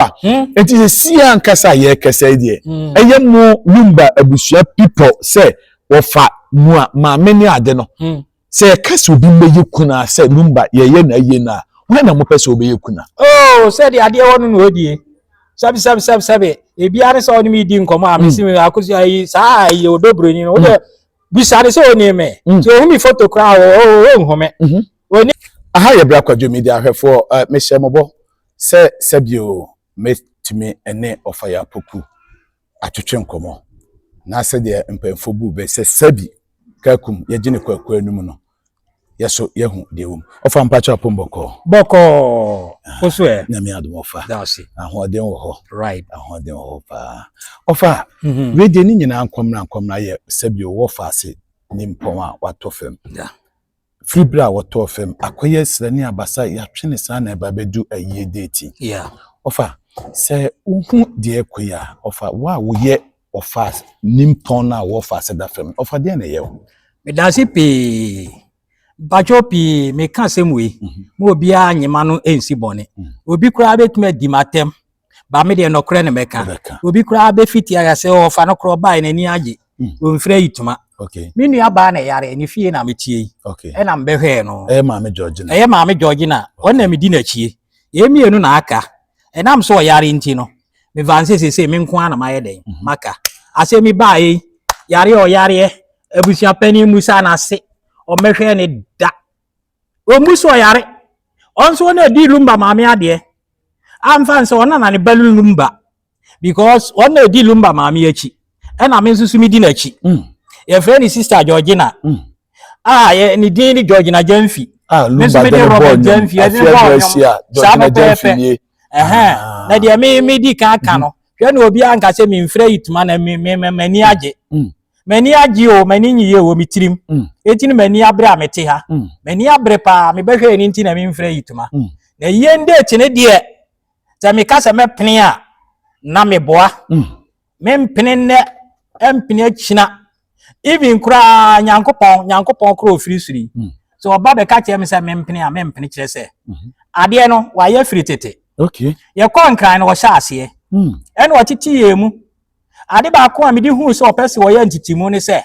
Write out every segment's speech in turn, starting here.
Lumba. Hmm? Eti sesie ankasa a yɛrekasa yi deɛ, hmm. ɛyɛ mo Lumba abusua people sɛ wɔfa mu a maame ne ade no. Hmm. Sɛ yɛka sɛ obi mmɛyɛ kuna sɛ Lumba yɛyɛ na ayie no a, wɔn na mopɛ sɛ wɔbɛyɛ kuna. Oo oh, sɛde adeɛ wɔ no na ɔdie. Sɛbi sɛbi sɛbi sɛbi ebiara ne sɛ ɔne mi di nkɔmɔ a mesi mi akosi ayi saa ayi odo buroni no wodɛ bisa ne sɛ ɔne mi. Sɛ ohun mi foto koraa o o o nhome. Aha yɛ bere akwadwo mi di ahwɛfoɔ mehyɛ mo bɔ. sɛ sɛdeɛ mɛtumi ne Ɔfaya Apoku atwetwe nkɔmmɔ na sɛdeɛ mpanyinfoɔ bu bɛ sɛ sɛbi Kakum yɛgye ne kwaku anum no yɛ so yɛhu deɛ wɔm. Ɔfa mpakyɛ apom bɔkɔɔ. Bɔkɔɔ! Wo so ɛ? Nyame adom ɔfa. Daase. Ahoɔden wɔ hɔ. Right. Ahoɔden wɔ hɔ paa. Ɔfa, mm-hmm. wei deɛ ne nyinaa nkɔmmena nkɔmmena yɛ sɛbi wɔ faase ne mpɔn a watɔ fam. Yeah. Firi berɛ a wɔtɔɔ fam, akɔyɛ srɛ ne abasa, yɛatwe ne saa na ɛba abɛdu ayie deeti. Yeah. Ɔfa, sɛ wohu deɛ ɛkɔ yi a, ɔfa, wo a woyɛ ɔfa nimpɔn no a wɔ ɔfa ase da fam, ɔfa deɛ na ɛyɛ wo? Medanse pii. Mpakyɛw pii meka asɛm wei, ma obiara nyema no nsi bɔne. Obi koraa bɛtumi adi m'atɛm ba me deɛ nɔkorɛ ne mɛka obi koraa bɛfiti ayɛ sɛ ɔfa no korɔ bae n'ani agye ɔmfiri hmm. ayitoma me nua baa na ɛyare ne fie na metie yi ɛna mbɛhwɛɛ no ɛyɛ maame georgina ɛyɛ maame georgina ɔno na medi n'akyie yɛ mmienu na aka ɛnam so ɔyare nti no mefa nsɛ sesei me nko a na mayɛ dɛn mhm. maka asɛ me baa yi yareɛ ɔyareɛ abusua panin mu sa no ase ɔmmɛhwɛ ne da Ɔmmu so ɔyare. Ɔno nso ɔna ɛdi Lumba maame adeɛ. Amfa nsɛ ɔna na ne ba no Lumba because ɔna ɛdi Lumba maame akyi. Ɛna me nso so medi n'akyi. Mm. Yɛfrɛ ne sister Georgina. Mm. A yɛ ne din ne Georgina Gyamfi. Ah, Lumba de ne bɔɔ nyom. Afia Gyamfi a Georgina Gyamfi nie. Ɛhɛn. Ah. Na deɛ me medi kan ka no. Mm-hmm. Hwɛ na obi anka sɛ memfrɛ yi tuma na m'ani agye. Mm. M'ani agye o, m'ani nyiye wɔ me tirim. Mm. Eti no m'ani abere a mete ha. Mm. M'ani abere paa, mebɛhwɛ yɛ no nti na memfrɛ yi tuma. Mm. Na yie nde kyene deɛ, sɛ meka sɛ mɛpene a, na meboa. Mm. Mempene nnɛ, ɛmpene akyina. Even koraa Nyankopɔn, Nyankopɔn korɔ ofiri soro yi. Mm. Sɛ ɔba bɛka kyerɛ me sɛ mempene a, mempene kyerɛ sɛ. Mm-hmm. Adeɛ no, wayɛ firi tete. Okay. Yɛkɔ nkran no, wɔhyɛ aseɛ. Mm. Ɛna ɔtete yɛn mu. Ade baako a mede huu sɛ ɔpɛ sɛ ɔyɛ ntetemu ne sɛ,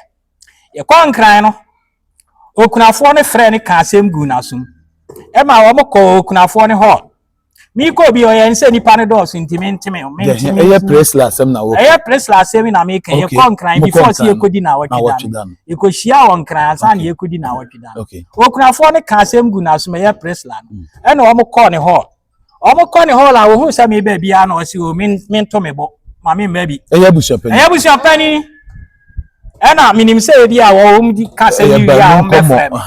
yɛkɔɔ Nkran no, okunafoɔ no frɛɛ no kaa asɛm guu n'asom. Ɛma wɔn kɔɔ okunafoɔ no hɔ. Mekɔ bi ɔyɛ nsɛ nipa no dɔɔso nti menteme menteme. Ɛyɛ Presla asɛm na wɔkɔ. Ɛyɛ Presla asɛm na meka. Okay. Yɛkɔ Nkran before sɛ yɛkɔdi na awɔtwe da no. Yɛkɔhyia wɔ Nkran ansa na yɛkɔdi na awɔtwe da no. Okunafoɔ no ka asɛm gu n'asom ɛyɛ Presla no. Mm. Ɛna wɔn kɔɔ ne hɔ. Wɔn kɔ ne hall a wɔhu sɛ meba biara na ɔsi o oh, mento me bo ma me mma bi. Ɛyɛ abusuapɛni. Ɛyɛ abusuapɛni. Ɛna menim sɛ ebi a wɔn di ka sɛ mi wie a wɔn bɛfrɛ mi.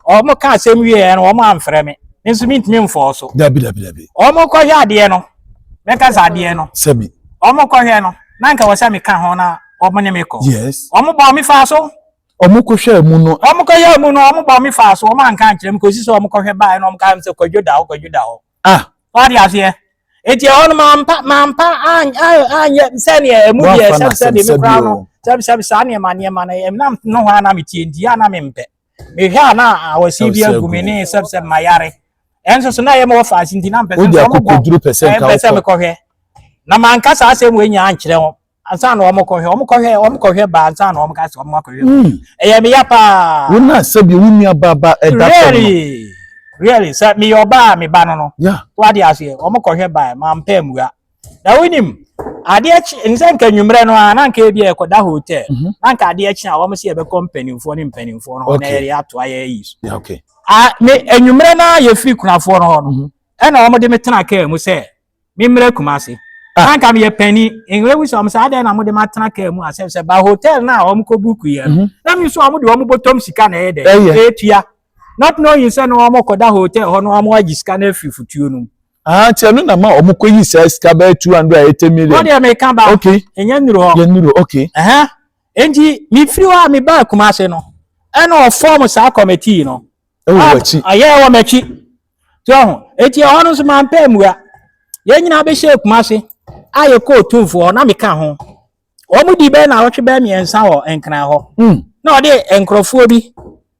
Wɔn ka asɛm wie yɛn no wɔn amfrɛ mi. Me nso mintumi mfɔɔ so. Dabi dabi dabi. Wɔn kɔhwɛ adeɛ no. Mɛka sɛ adeɛ no. Sɛbi. Wɔn kɔhwɛ no. Na nka wɔ sɛ meka ho na wɔn ne me kɔ. Yes. Wɔn bɔ me fa so. Ɔmo ko hwɛɛ mu no. Ɔmo kɔ yɛɛ mu no ɔmo bɔ me faa so ɔmo anka ankyerɛ me kosi sɛ ɔmo kɔ hwɛ baaɛ na ɔmo kaa me sɛ kwadwo da hɔ kwadwo da hɔ. Ah. Wate aseɛ? Eti ɛhɔ no mampa mampa an an anyɛ sɛdeɛ ɛmu Wa deɛ fa no sɛbisɛbi me asɛbisɛbi koraa no o. sɛbisɛbi saa nneɛma nneɛma no ɛm na no hɔ a na metie nti a na mempɛ. Mehwɛ a na awɔsie bi Awɔsie agu agu me me. ne sɛbisɛbi mayare. Ɛnso so na ɛyɛ me wɔ faase nti na mpɛ sɛ Wode nso ɔmo akɔ bɔ koduro pɛ sɛ ɛɛ nka mpɛ sɛ wokɔ. mekɔhwɛ. Na manka saa asɛm wei nyinaa ankyerɛ wɔn. ansa na wɔn kɔhwɛ wɔn kɔhwɛ wɔn kɔhwɛ ba ansa na wɔn ka sɛ wɔn akɔhwɛ hmm. ɛyɛ mi ya paa. wọn a sɛbi wọn nua baaba ɛda fam no. really sɛ mi yɛ ɔbaa mi ba no no. wa de aseɛ wɔn kɔhwɛ ba yɛ maa mpɛ mua na wɔn nim adeɛ kyi nsɛ nka nwummerɛ no a na nka ebi ɛkɔda hotel mhm. na nka adeɛ kyi a wɔn si ɛbɛkɔ mpanimfoɔ ne mpanimfoɔ no hɔ na yɛde ato ayɛ yi so. a ne nwummerɛ no a yɛfiri kunafoɔ no hɔ no mhm. ɛna wɔn de me tena kaa mu sɛ. me mmerɛ kumase ah. na nka meyɛ panyin nwura wu sɛ ɔmo sɛ adɛn na mo de ma tena kaa mu asɛm sɛ ba hotel na ɔmo kɔ buku yɛ no mhm. na mi nso ɔmo de ɔmo bɔtɔm sika na ɛyɛ dɛ ɛtua not knowing sɛ na ɔmo kɔda hotel hɔ na ɔmo agye sika na afiri futuo no mu. Ah, nti ɛno na ma ɔmo kɔ yi saa sika bɛyɛ two hundred and eighty million. wọ́n deɛ mi kan ba okay ɛnyɛ nnuro hɔ yɛ nnuro okay. ɛhɛn nti mi firi hɔ a mi ba Kumasi no ɛna ɔfɔm saa kɔmɛtii no. ɛwɔ wɔ akyi ɛyɛ ɛwɔ m'akyi. so ɔho eti ɛhɔ no nso maa mpɛ mua yɛn nyinaa bɛ hyɛ kuma ase a yɛ kɔɔ tumfo hɔ na meka ho wɔn di bɛyɛ na awɔtwe bɛyɛ mmiɛnsa wɔ nkran hɔ hmm. na ɔde nkorɔfoɔ bi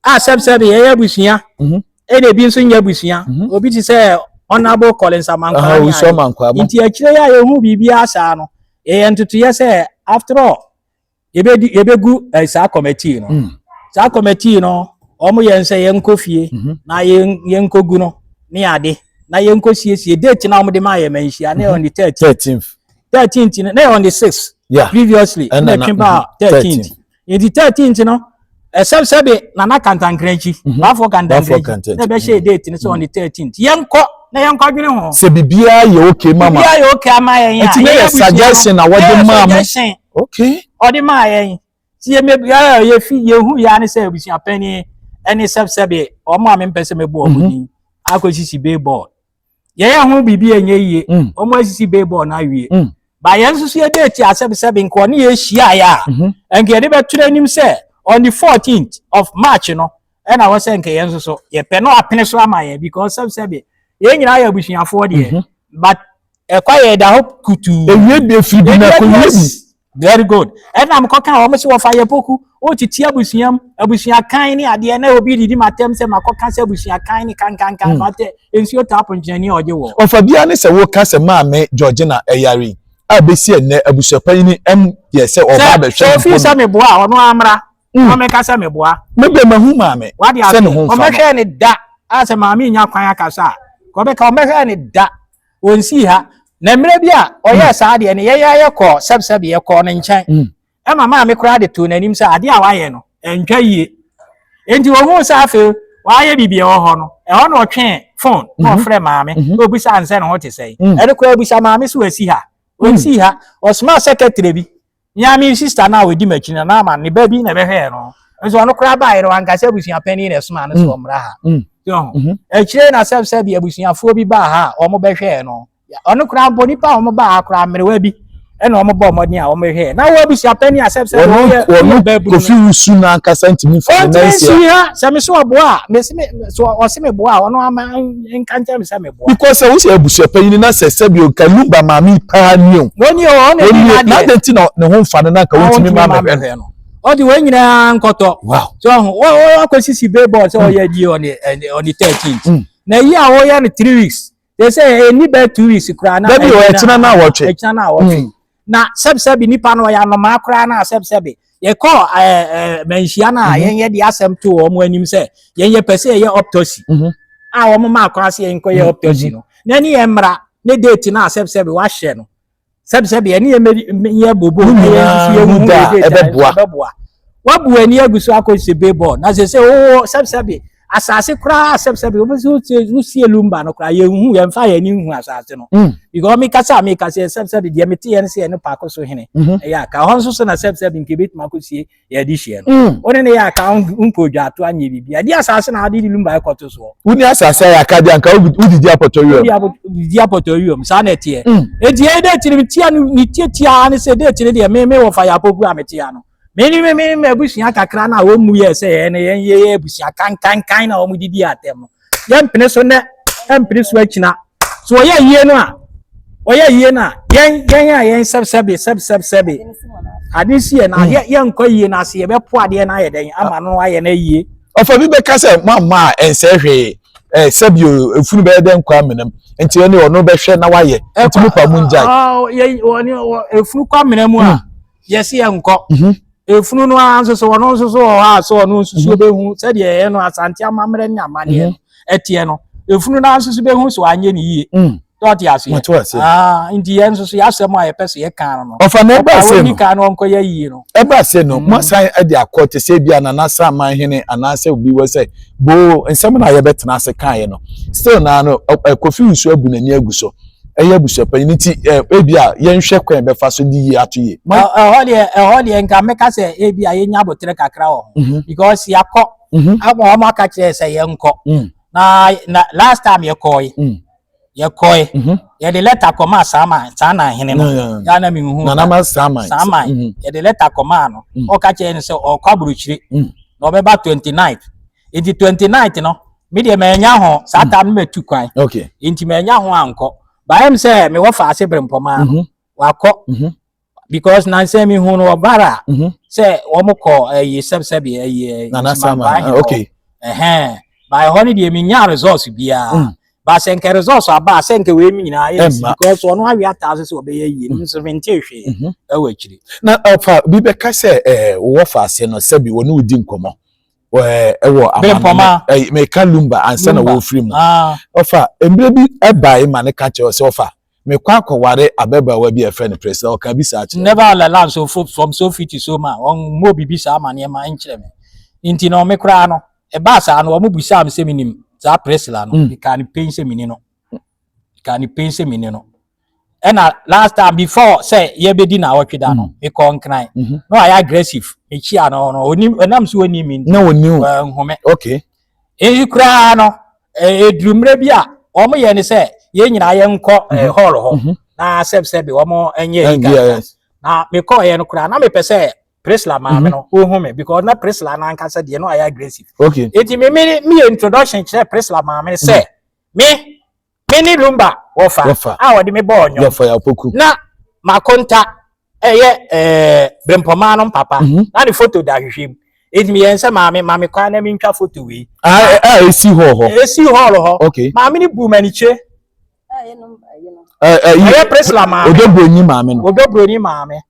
a sɛbsɛbi yɛyɛ abusua mhm. ɛna ebi nso nyɛ abusua mhm. obi ti sɛ ɔnabo kɔlensa mankwaa ne ayi nti akyire yɛ a yɛhu biribi asaa no yɛyɛ ntotoyɛ sɛ after all. yɛbɛdi yɛbɛgu eh, saa kɔmɛtii no mm. saa kɔmɛtii no wɔn yɛn sɛ yɛnkɔ fie mhm. na yɛnkɔgu no ne ade na yɛnkɔ siesie date na wɔn de maa yɛ ma nhyia ne mhm. on the thirteenth thirteenth no ne on the sixth previously ɛna twe ba thirteenth nti thirteenth no. ɛsɛm sɛ de nana kantankrankyi mhm. baafo kantankrankyi na ɛbɛhyɛ mhm. date no sɛ on the mhm. thirteenth yɛnkɔ na yɛnkɔ dwene ho. sɛ biribiara yɛ okay mama biribiara yɛ okay ama yɛn a ɛti ne yɛ suggestion na wɔde maa mo okay ɔde maa yɛn ti yɛ mɛ biara yɛ fi yɛ hu yɛ ani sɛ abusua panyin ɛne sɛbsɛbi wɔn a mi mpɛ sɛ mɛ bu wɔn ni akɔ sisi bee bɔɔl. yɛyɛ ho biribi a ɛnyɛ yie mm. wɔn asisi baseball no awie mm. ba yɛn nso so yɛde ati asɛbisɛbi nka ɔne yɛ hyiaeɛ a mhm. nka yɛde bɛtwerɛ anim sɛ on the fourteenth of march no ɛna wɔ sɛ nka yɛn nso so yɛpɛ no apene so ama yɛ because sɛbisɛbi yɛn nyinaa yɛ abusuafoɔ deɛ mhm. but ɛkwa yɛ da hɔ kutuu ewie de firi bi na kɔ wie bi. Very good. Ɛna mekɔka wɔn sɛ wɔfa yɛ poku. Wotete abusua mu, abusua kan ne adeɛ na obi didi m'atɛm sɛ makɔka sɛ abusua kan ne kankankan hmm. matɛ nsuo taa ponkyɛni a ɔgye wɔ. Ɔfa biara ne sɛ woka sɛ maame Georgina ɛyare eh, a bɛsi ɛnɛ abusua panyin ɛm yɛ sɛ ɔba abɛhwɛ mpo. Sɛ ofii sɛ meboa a ɔno amra. Hmm. Ɔmɛka sɛ meboa. Mebɛ mahu maame sɛ ne ho mfa no. Ɔmɛhwɛ ne da a sɛ maame nya kwan akasa a ɔbɛka ɔmɛhwɛ ne da wɔn sii ha na mmerɛ bi a ɔyɛɛ saa deɛ no yɛn yɛayɛ kɔɔ sɛbsɛbe yɛkɔɔ ne nkyɛn ɛma maame koraa de too n'anim sɛ adeɛ a wayɛ no ɛntwa yie nti wɔhuu sɛ afei wayɛ biribi ɛwɔ hɔ no ɛhɔ na ɔtwee fon na ɔfrɛ maame na ɔbisa ansɛ ne ho te sɛe ɛno koraa bisa maame so asi ha ɔnsii ha ɔsomaa sɛkɛtrɛ bi Me ara me sista no a ɔdi m'akyi no, na ama ne ba bi na ɛbɛhwɛɛ no. Nso ɔno koraa baeɛ no, wanka sɛ abusua panin na ɛsomaa no sɛ ɔmmra ha. Akyire na sɛ sɛ bi abusuafoɔ bi baa ha a wɔbɛhwɛɛ no. Ɔno koraa mpo nnipa a wɔbaa ha koraa mmerewa bi ɛna wɔn bɔ mmɔden a wɔn hwɛ na wɔn abusua panyin asɛm sɛ wɔn yɛ wɔn bɛɛbu no kofi wusu n'ankasa ntumi fa ne nan si ha sɛ me so ɔboa a me si me so ɔsi me boa a ɔno ama because sɛ wosi abusua panyin na sɛ sɛbi o nka lumba maame paa ni o wɔni o ɔna ni na deɛ n'adɛ ti na ne ho nfa no na nka wontumi ma mɛ hwɛ no ɔdi wɔn nyinaa nkɔtɔ so ɔho wɔ akɔ sisi bee bɔɔl sɛ ɔyɛ di ɔni ɛni ɔni thirteen na yi a wɔyɛ no three weeks sɛ sɛ ɛni bɛɛ two weeks koraa na ɛkyina na awɔtwe ɛkyina na awɔtwe. Na sɛbsɛbe nnipa no ɔyɛ anomaa koraa no a sɛbsɛbe yɛkɔɔ manhyia no a yɛnyɛ de asɛm too wɔn anim sɛ yɛnyɛ pɛ sɛ yɛyɛ optosi a wɔn maa kwan sɛ yɛnkɔyɛ optosi no na ɛne yɛn mmara ne date no a sɛbsɛbe wahyɛ no sɛbsɛbe ɛne yɛn yɛ bobo na yɛn nso yɛ wu date a ɛbɛboa wabu ani agu so akɔ sɛ bebɔ na sɛ sɛ wowɔ sɛbsɛbe asase koraa sɛbsɛb wosie lumba no koraa yɛnhu yɛmfa yɛn ani nhu asase no mm. because mekasa a mekasa sɛbsɛb deɛ meteyɛ no sɛ yɛne paako so hene mhm. ɛyɛ aka hɔ nso so na sɛbsɛb nka ɛbɛtumi akɔsie yɛde hyeɛ no mm. wone ne yɛ aka wonkɔ odwa ato anyɛ biribi ɛde asase na wode de lumba ɛkɔto soɔ woni asase ayɛ aka deɛ anka wodidi apɔtɔ wiam didi apɔtɔ wiam saa na ɛteɛ ɛnti mm. ɛyɛ dɛ tiri metia no ne tiatiaa ne sɛ dɛ tiri deɛ me me wɔ fa yɛ apɔgu a metia no Me ne me me abusua kakra no a wɔn mu yɛ sɛ yɛn no yɛn yɛyɛ abusua kankankan na wɔn didi atɛm no yɛn mpene so nɛ mpene so akyina so wɔyɛ yie no a wɔyɛ yie no a yɛn yɛn a yɛn sɛbsɛbe sɛbsɛbsɛbe ade si yɛ na hmm. yɛ yɛn nkɔ yie na ase yɛbɛ po adeɛ na ayɛ dɛn ama no ayɛ na yie. ɔfɛ bi bɛka sɛ mo ama a ɛnsɛ hwee ɛɛ sɛbi o efunu bɛyɛ dɛ nkɔ amena mu nti ɛni ɔno bɛhwɛ na wayɛ nti mo pa mu ngya. efunu kɔ amena mu a. Hmm. yɛsi yɛ nkɔ mhm. efunu no ara nso so ɔno nso so wɔ hɔ a so ɔno nso so mhm. behu sɛdeɛ ɛyɛ no asante amammerɛ ne amaneɛ no ɛteɛ no efunu no ara nso so behu so anyɛ ne yie mm. tɔɔte ase yɛ ah, nti yɛn nso so yɛasɛm a yɛpɛ so yɛ kan no ɔfa na ɛbɛ ase no ɔfa kan no ɔnkɔ yɛ yie no ɛbɛ ase no mo asan ɛde akɔ te sɛ ebi a nana san man hene anaasɛ obi wɔ sɛ boo nsɛm na yɛbɛtena ase kan yɛ no still naa no kofi nsuo abu n'ani agu so. Mm. ɛyɛ abusuapanyin nti eh, ebi a yɛnhwɛ kwan bɛfa so de yi ato yie. ɛhɔ deɛ ɛhɔ deɛ nka mɛka sɛ ebi a yɛnya abotire kakra wɔ ho mhm. because yɛakɔ mhm. ama wɔn aka kyerɛ sɛ yɛnkɔ mm. na na last time yɛkɔɔe mm. yɛkɔɔe mhm. yɛde lɛta kɔmaa saama saana hene no yaana mi hu nanama saama saama yɛde lɛta kɔmaa no mm. ɔka kyerɛ no sɛ ɔkɔ aburukyire na ɔbɛba twenty nine. nti twenty ninth no me deɛ manya ho saa hmm. ta no matu kwan okay nti manya ho ankɔ baayam sɛ mewɔ fa ase bere mpɔmaa no mhm. wakɔ mhm. because nansɛ mi hu no ɔbara mhm. sɛ wɔn kɔ ɛyi eh, sɛbsɛbi ɛyi eh, nsimabaa eh, hɔ okay ɛhɛn baayɛ hɔ no deɛ mi nya results biara hmm. baasɛ nkɛ results aba asɛ nkɛ wei mi nyinaa yɛ nsi because wɔn awi ataase sɛ ɔbɛyɛ yie hmm. nso mi nti ehwɛ ɛwɔ akyiri. na ɔfa bi bɛka sɛ ɛɛ wɔfa ase no sɛbi wɔn ni di nkɔmɔ. ɛwɔ amanaman meka lumba ansa na wɔfiri mu ah. ɔfa mmerɛ bi ɛbae ma ne ka kyerɛ sɛ ɔfa mekɔ akɔware ababaawa bi a ɛfrɛ no pɛrɛ sɛ ɔka bi saa kyerɛ never all allow so from so fiti so ma ɔmmɔ biribi saa ma nneɛma nkyerɛ me nti na ɔme koraa no ɛbaa saa no ɔmo busaa me sɛ menim saa pɛrɛsila no meka ne pɛn sɛ meni no meka ne pɛn sɛ meni no ɛna last time before sɛ yɛbɛdi na ɔtwe da no mekɔ mhm. nkran mhm. na ɔayɛ aggressive mekyia no no ɔnim ɛnam so ɔnim mi na ɔnim nhome okay ɛyi koraa no ɛduru e, mmerɛ bi a wɔn yɛ ne sɛ yɛn nyinaa yɛn nkɔ e, mhm. hall hɔ na sɛb sɛbi wɔn nyɛ yi kan na mekɔ yɛn no koraa na mepɛ sɛ Prisla maame no ɔhu me because na Prisla n'ankasa deɛ no ɔayɛ aggressive okay eti mi mi mi introduction kyerɛ Prisla maame sɛ me. Me ne Lumba wɔfa Wɔfa. a wɔde me bɔɔ nnwom. Yɛfa yɛ apoku. Na m'akonta yɛ ɛɛ Brempɔmaa no mpapa. Mhm. Na ne foto da ahwehwɛ mu. Enti meyɛɛ no sɛ maame ma me kwan na mentwa foto wei. A a esi hɔ hɔ. Ɛsii hɔɔl hɔ. Okay. Maame no buu m'anikyire. Ɛyɛ nom ɛyɛ nom. Ɛ ɛ yi. Ɛyɛ Priscilla maame. Odɔ buroni maame no. Odɔ buroni maame.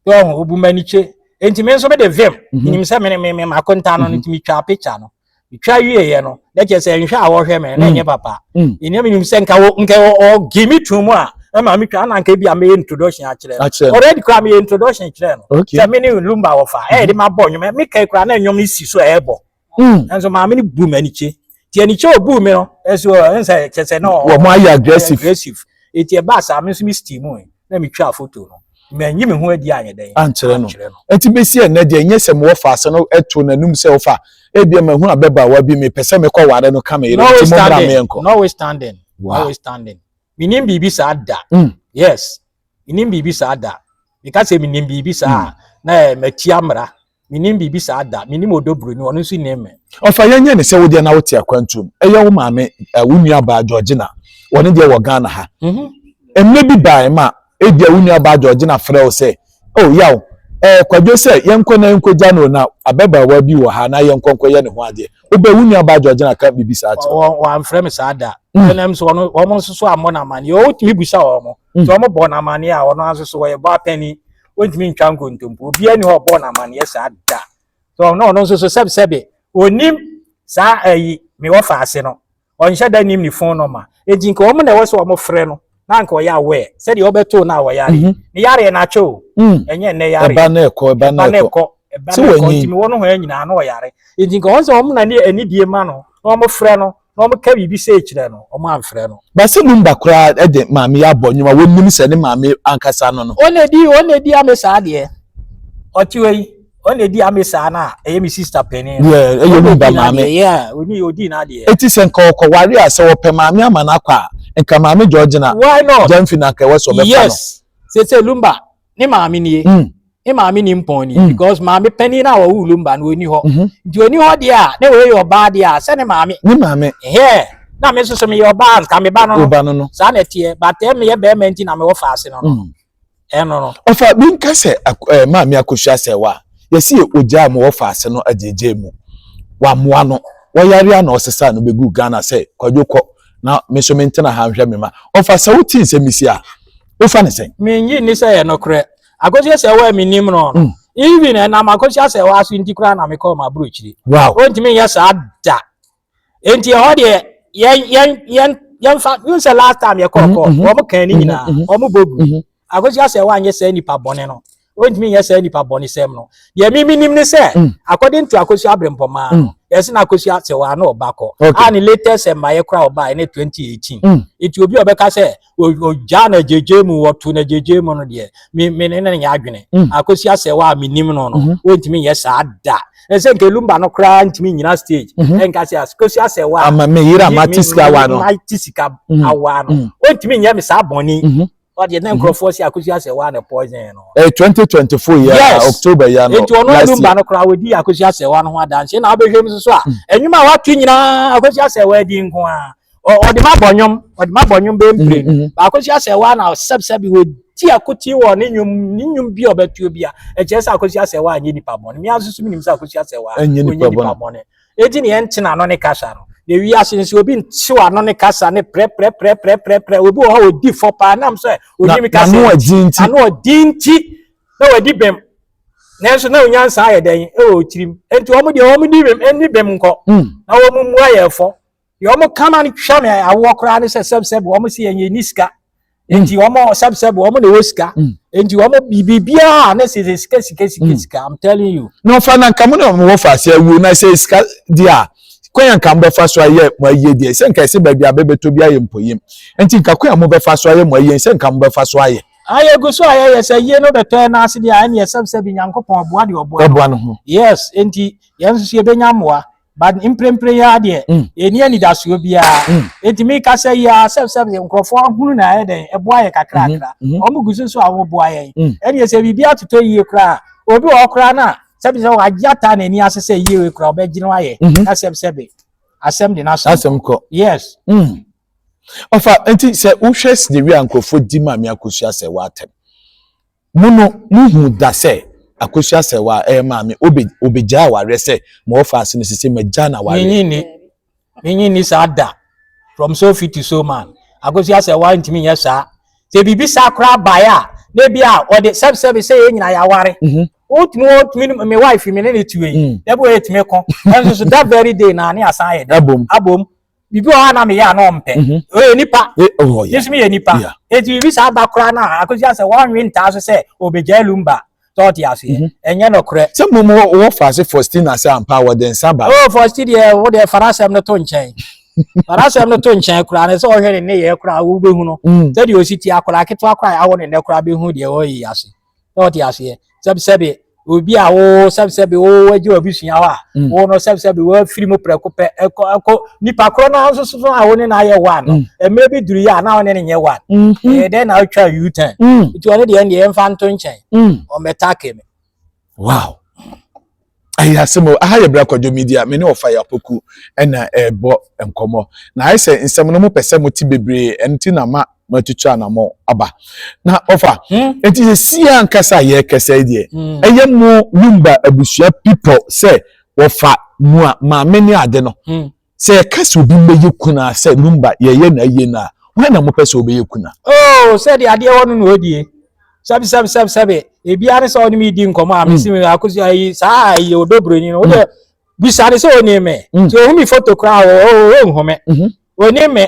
yɛ ɔho obu m'ani kye nti me nso mede vim mhm. menim sɛ mene me mema akonta no no mhm. nti metwaa picture no metwa wieɛ no na kyerɛ sɛ nhwɛ a wɔhwɛ me na ɛnyɛ mm. papa mm. ɛnea menim sɛ nka nka ɔge me to mu a ɛma metwa na nka bi a meyɛ introduction akyerɛ no already koraa meyɛ introduction kyerɛ no sɛ me ne lumba wɔfa ɛyɛ de mabɔ nnwom meka koraa na nnwom no si so ɛɛbɔ Mm. Nanso maame no bu m'anikye. Nti anikye a ɔbuu me no, nso ɛne sɛ kyɛ sɛ na wɔn ayɛ aggressive. aggressive. Nti ɛbaa saa me nso me steam mu na metwaa foto no. Manyi me ho adi anyɛ dɛn. Ankyerɛ no. Nti bɛsi ɛnɛ deɛ nyɛ sɛ mewɔ faase no to n'anum sɛ wofa ebia mahu ababaawa bi mepɛ sɛ mekɔ ware no ka me yere nti mommra me yɛnkɔ. Notwithstanding. Notwithstanding. Menim biribi saa da. Mm. Yes. Menim biribi saa da. Meka sɛ menim biribi saa a mm. na matia mmara. Mennim biribi saa da. Mennim Odobroni, ɔno nso nnim me. Ɔfa yɛnyɛ ne sɛ wodeɛ na wote akwantuom. Ɛyɛ wo maame, eh, wo nua baa Georgina. Wɔne deɛ wɔ Ghana ha. Mhm. Mmerɛ bi baae ma ebia wo nua baa Georgina frɛ wo sɛ, oh, yaw, eh, kwadwo sɛ yɛnkɔ na yɛnkɔgya no na ababaawa bi wɔ ha na yɛnkɔ nkɔyɛ ne ho adeɛ. Wobɛ, wo nua baa Georgina ka biribi saa kyerɛ wo. Wɔamfrɛ me saa da. Mm. Ɛnam sɛ wɔn wɔn nso so ammɔ no amanneɛ. Wɔtumi bisa wɔn. Sɛ wɔbɔ no amanneɛ a, wɔn nso so wɔyɛ bɔ apɛni. wɔntumi ntwa nkontompo obiara ni hɔ ɔbɔɔ no amanneɛ saa da so ɔno ɔno nso so sɛbsɛbe ɔnim saa ayi me wɔfa ase no ɔnhyɛ da nim ne fon nɔma enti nka wɔn na ɛwɔ sɛ wɔn frɛ no na nka ɔyɛ awɛ sɛdeɛ ɔbɛtoo no a wɔyare mhm. ne yareɛ no atwɛ o mm. ɛnyɛ nnɛ yareɛ ɛba na ɛkɔ ɛba na ɛkɔ ɛba na ɛkɔ ntumi wɔn ho nyinaa na ɔyare enti nka wɔn sɛ wɔn na ne anidie ma no na wɔn frɛ no na wɔka biribi sei kyerɛ no, wɔamfrɛ no. Basi Lumba koraa de maame yi abɔ nnwom a wɔnnim sɛ ne maame ankasa no no. Wɔn na ɛdi, wɔn na ɛdi ame saa deɛ. Ɔte hɔ yi, wɔn na ɛdi ame saa no a, ɛyɛ me sista panin no. Yeah, ɛyɛ Lumba maame. Yeah, ɔni ɔdi n'adeɛ. Eti sɛ nka ɔkɔ ware a, sɛ wɔpɛ maame ama no akɔ a, nka maame Georgina Why not? Gyamfi na nka ɛwɔ sɛ ɔbɛfa no. Yes, sese Lumba ne maame nie mm. ne maame ni mpɔn ni mm. because maame panyin a wɔwɔ wulum ba no oni hɔ mhm. nti oni hɔ deɛ a na wɔyɛ ɔbaa deɛ a sɛ ne maame ne maame hɛɛ na me nso so meyɛ ɔbaa nka me ba no no saa na ɛteɛ batɛ eh, meyɛ bɛrima nti na mewɔ faase no no mm. ɛno no ɔfa bi nka sɛ eh, maame akosua sɛ wa yɛsi yɛ ogya a mewɔ faase no agyegye mu wamoa no wɔyare a na ɔsesa no bɛgu ghana sɛ kwadwo kɔ na me nso mentena ha nhwɛ me ma ɔfa sɛ wotii sɛ mesi a wofa ne sɛn mengye nni sɛ yɛ nokorɛ akɔhyia sɛ wɔ a mennim no no mm. even ɛnam akɔhyia sɛ wɔ aso nti koraa na mekɔɔ m'aborɔkyiri ɔntumi nyɛ saa da enti ɛhɔ deɛ yɛmfa hu sɛ last time yɛkɔkɔ wɔm kan ne nyinaa wɔm bɔgu akɔhyia sɛ wɔ anyɛ saa nnipa bɔne no ɔntumi nyɛ saa nipa bɔnesɛm no deɛ mi menim ne sɛ mm. according to akosua abrempɔmaa no mm. yɛse na akosua sɛ wɔa na ɔba kɔ a ne latest mmaeɛ kora ɔba ɛne 2018 mm. nti obi a ɔbɛka sɛ ɔgyaa na gyegye mu wɔto na gyegye mu no deɛ me ne ne nyɛ adwene akosua sɛ wɔ a menim no no mm-hmm. wɔntumi nyɛ saa da ɛsɛ nka lumba no koraa ntumi nyina stage mhm. ɛnka sɛ akosi asɛ wa ama me yira ma ti sika wa no ma ti sika mhm. awa no mhm. ntumi nyɛ me saa bɔnni ɔdeɛ na nkurɔfoɔ si akosua sɛ waa na poison no. ɛyɛ twenty twenty four yɛ a october yɛ no nti ɔno ɛdum ba no koraa wɔdi akosua sɛ waa no ho adanseɛ na wobɛhwɛ mu soso a ɛnwuma a wato nyinaa akosua sɛ waa di nko a ɔde ma bɔ nnwom ɔde ma bɔ nnwom bɛmpire no akosua sɛ waa na ɔsɛbsɛ bi wɔdi akote wɔ ne nnwom ne nnwom bi a ɔbɛtuo bi a ɛkyerɛ sɛ akosua sɛ waa nyɛ nipa bɔne mea nso so menim sɛ akosua sɛ waa ɔnyɛ nipa bɔne Edi nea ɛnte na ano ne kasa no. Na wiase nso obi ntew ano ne kasa ne prɛprɛprɛprɛprɛprɛ. Obi wɔ hɔ a odi fɔ paa nam sɛ onim Na kasa. n'ano ɔdin nti. Ano ɔdin nti na wadi bem. Nanso na onyansa ayɛ dɛn wɔ tirim. Enti wɔn deɛ wɔn di bem, nni bem nkɔ. Mm. Na wɔn mu ayɛ fɔ. deɛ wɔn kama no twa me awoɔ koraa ne sɛ sɛbsɛb wɔn se yɛn yɛn ni sika hmm. nti wɔn sɛbsɛb wɔn na ɛwɔ sika hmm. nti wɔn biribiara ne sɛ sika sika sika hmm. sika i'm telling you. na ɔfa na nka mo na mo wɔ fa ase awuo na sɛ sika di a kwan a nka mbɛfa so ayɛ mo ayie deɛ sɛ nka ɛsɛ baabi a bɛbɛtɔ bi ayɛ mpɔyɛm nti nka kwan a mo bɛfa so ayɛ mo ayie sɛ nka mo bɛfa so ayɛ. ayɛ gu so ayɛ yɛ sɛ yie no bɛtɔ yɛn n'ase deɛ ɛne yɛ sɛbsɛb nyankopɔn ɔboa deɛ ɔboa no ho yes nti yɛn nso yɛbɛnya mmoa but mprempren yi ara deɛ mm. yɛnni anidasoɔ biara mm. enti meka sɛ yi ara sɛbsɛb nkurɔfoɔ ahunu na ayɛ dɛn ɛboa yɛ kakrakra mm-hmm. mm-hmm. wɔn gu so so a wɔboa yɛn mm. ɛdeɛ sɛ biribi atotɔ yie koraa obi wɔ koraa no a sɛbi sɛ wagye ata n'ani ase sɛ yie wei koraa ɔbɛgyina ayɛ mm-hmm. na sɛbsɛbi asɛm de n'asɛm asɛm kɔ yes ɔfa nti sɛ wohwɛ sɛ dewi a nkurɔfoɔ di maame akosua sɛ wɔatɛm Mo no mo huu da sɛ akosua sɛ wa ɛyɛ maame obe obegyae awareɛ sɛ ma wɔfa ase no sese magya na wareɛ. Menye nni menye nni saa da from so fi to so man akosua sɛ wa ntumi nyɛ saa sɛ biribi saa koraa baeɛ a na ebi a ɔde sɛbi sɛbi sɛ yɛn nyinaa yɛaware mm -hmm. wotumi wotumi me wife me ne ne tue mm. dabi wɔ yɛtumi ko ɛnso so that very day na ne asan ayɛ dɛ abom abom bibi wɔ hɔ a na meyɛ a na ɔmpɛ ɔyɛ nipa ne so meyɛ nipa ɛti bibi saa ba koraa no a akɔsi asɛ wɔnwe ntaa so sɛ ɔbɛgyae lumba sɛ ɔte aseɛ mhm. ɛnyɛ nɔkorɛ sɛ mmom wɔ faase fostina sɛ ampa wɔde nsa ba o fosti deɛ wo deɛ fara asɛm no to nkyɛn fara asɛm no to nkyɛn koraa ne sɛ ɔhwɛ ne nneyɛɛ koraa wobɛhu no mm. sɛdeɛ ɔsi ti akwadaa ketewa koraa awɔ ne nnɛ koraa bɛhu deɛ ɔyɛ ase na ɔte aseɛ sɛbisɛbi obi a wo sɛbisɛbi wo wagye wabusua hɔ a mm. wo no sɛbisɛbi wafiri mu prɛko pɛ ɛkɔ ɛkɔ nipa korɔ no nso so a wo ne no ayɛ one no mmerɛ mm. bi duru yɛ a na wo ne no nyɛ one mm-hmm. ɛyɛ dɛn na wotwa u turn mm. nti ɔno deɛ ɛndeɛ ɛmfa nto nkyɛn ɔmmɛtake me wow ayɛ asɛm o aha yɛ bra kwadwo media me ne ɔfa yɛ apoku ɛna ɛbɔ nkɔmɔ na ayɛ sɛ nsɛm no mo pɛ sɛ mo te bebree ɛno ti na ma mo atutu anamɔ aba na ɔfa ɛti hmm? sɛ sie ankasa a yɛ kɛsɛ deɛ hmm. ɛyɛ mo lumba abusua people sɛ wɔfa mua maame ne ade no hmm. Sɛ yɛka sɛ obi mmɛyɛ kunu a sɛ Lumba yɛyɛ no ayie no a, hwan na mopɛ sɛ ɔbɛyɛ kunu a? Oh, sɛdeɛ adeɛ wɔ no na ɔdie. Sɛbe sɛbe sɛbe sɛbe. Ebia ne sɛ ɔne me di nkɔmmɔ a hmm. mesi me akosi ayi saa ayi ɔdɔ buroni no. Wodɛ hmm. bisa ne sɛ ɔni me. Hmm. Sɛ ɔhu me foto koraa ɔnhu me. Ɔni me.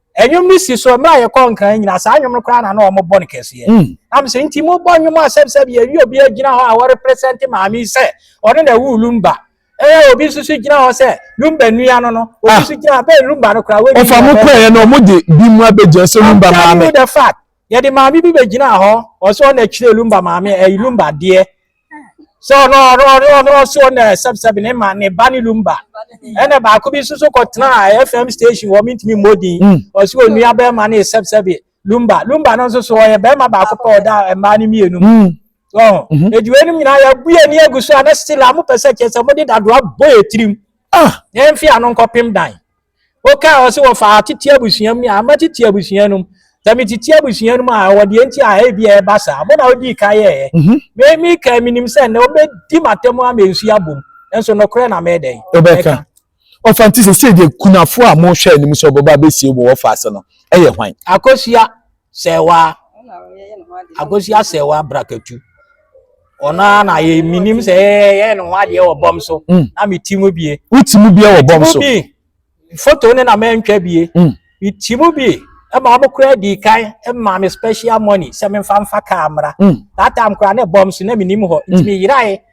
Ɛnwom no si so mmerɛ a yɛkɔ Nkran nyina, saa nwom no koraa na na wɔn bɔ no kɛseɛ. Na me sɛ nti mo bɔ nwom a sɛbi sɛbi yɛwie obi agyina hɔ a wɔ represent maame yi sɛ ɔno na ɛwoo Lumba. Ɛɛ obi nso so gyina hɔ sɛ Lumba nua no no, obi ah. nso gyina hɔ bɛɛ Lumba no koraa. Ɔfa mo kɔɛ yɛ na ɔmo de bi mu abɛgyina sɛ Lumba maame. I'm telling you the fact yɛde maame bi bɛgyina hɔ ɔsɛ ɔna akyire lumba maame ɛyi lumba deɛ so ɔno ɔno ɔno ɔno ɔso ɔna sɛbsɛb ne ma ne ba ne lumba ɛna baako bi nso so kɔtena fm station wɔ mintumi mmɔdin hmm. ɔso onua bɛrima ne sɛbsɛb lumba lumba no nso so ɔyɛ bɛrima baako pɛ ɔda mmaa no mmienu mu hmm. mhm. ediwe no nyinaa yɛbue ani agu so a na still a mopɛ sɛ kyerɛ sɛ mode dadoa bɔ yɛ tirim ah. yɛmfe ano nkɔpem dan Wokaa hɔ sɛ wɔfa atete abusua mu ne ama tete abusua no mu. Sɛ me tete abusua no mu a, ɛwɔ deɛ nti a ebi a ɛba saa. Mo na wodii kan yɛɛyɛ. Mhm. Me me kan menim sɛ nnɛ wobɛdi m'atam ama nsu abom. Nso nokorɛ na mɛdɛn. Wobɛka. Ɔfa nti sɛ sɛ deɛ kunafo a mohwɛ anim sɛ ɔbɛba abɛsie wɔ wɔfa ase no, ɛyɛ hwan? Akosua. sɛɛwa akosi asɛɛwa brakatu ɔno ara na yɛ menim sɛ yɛyɛ ne ho adeɛ wɔ bɔm so mm. na meti mu bie woti mu bie wɔ bɔm so foto ne na mantwa bie mm. meti mu bie ɛma ɔmo kora di kan ɛma me special money sɛ memfa mfa kaa mmra mm. that time kora ne bɔm so na menim hɔ nti meyerae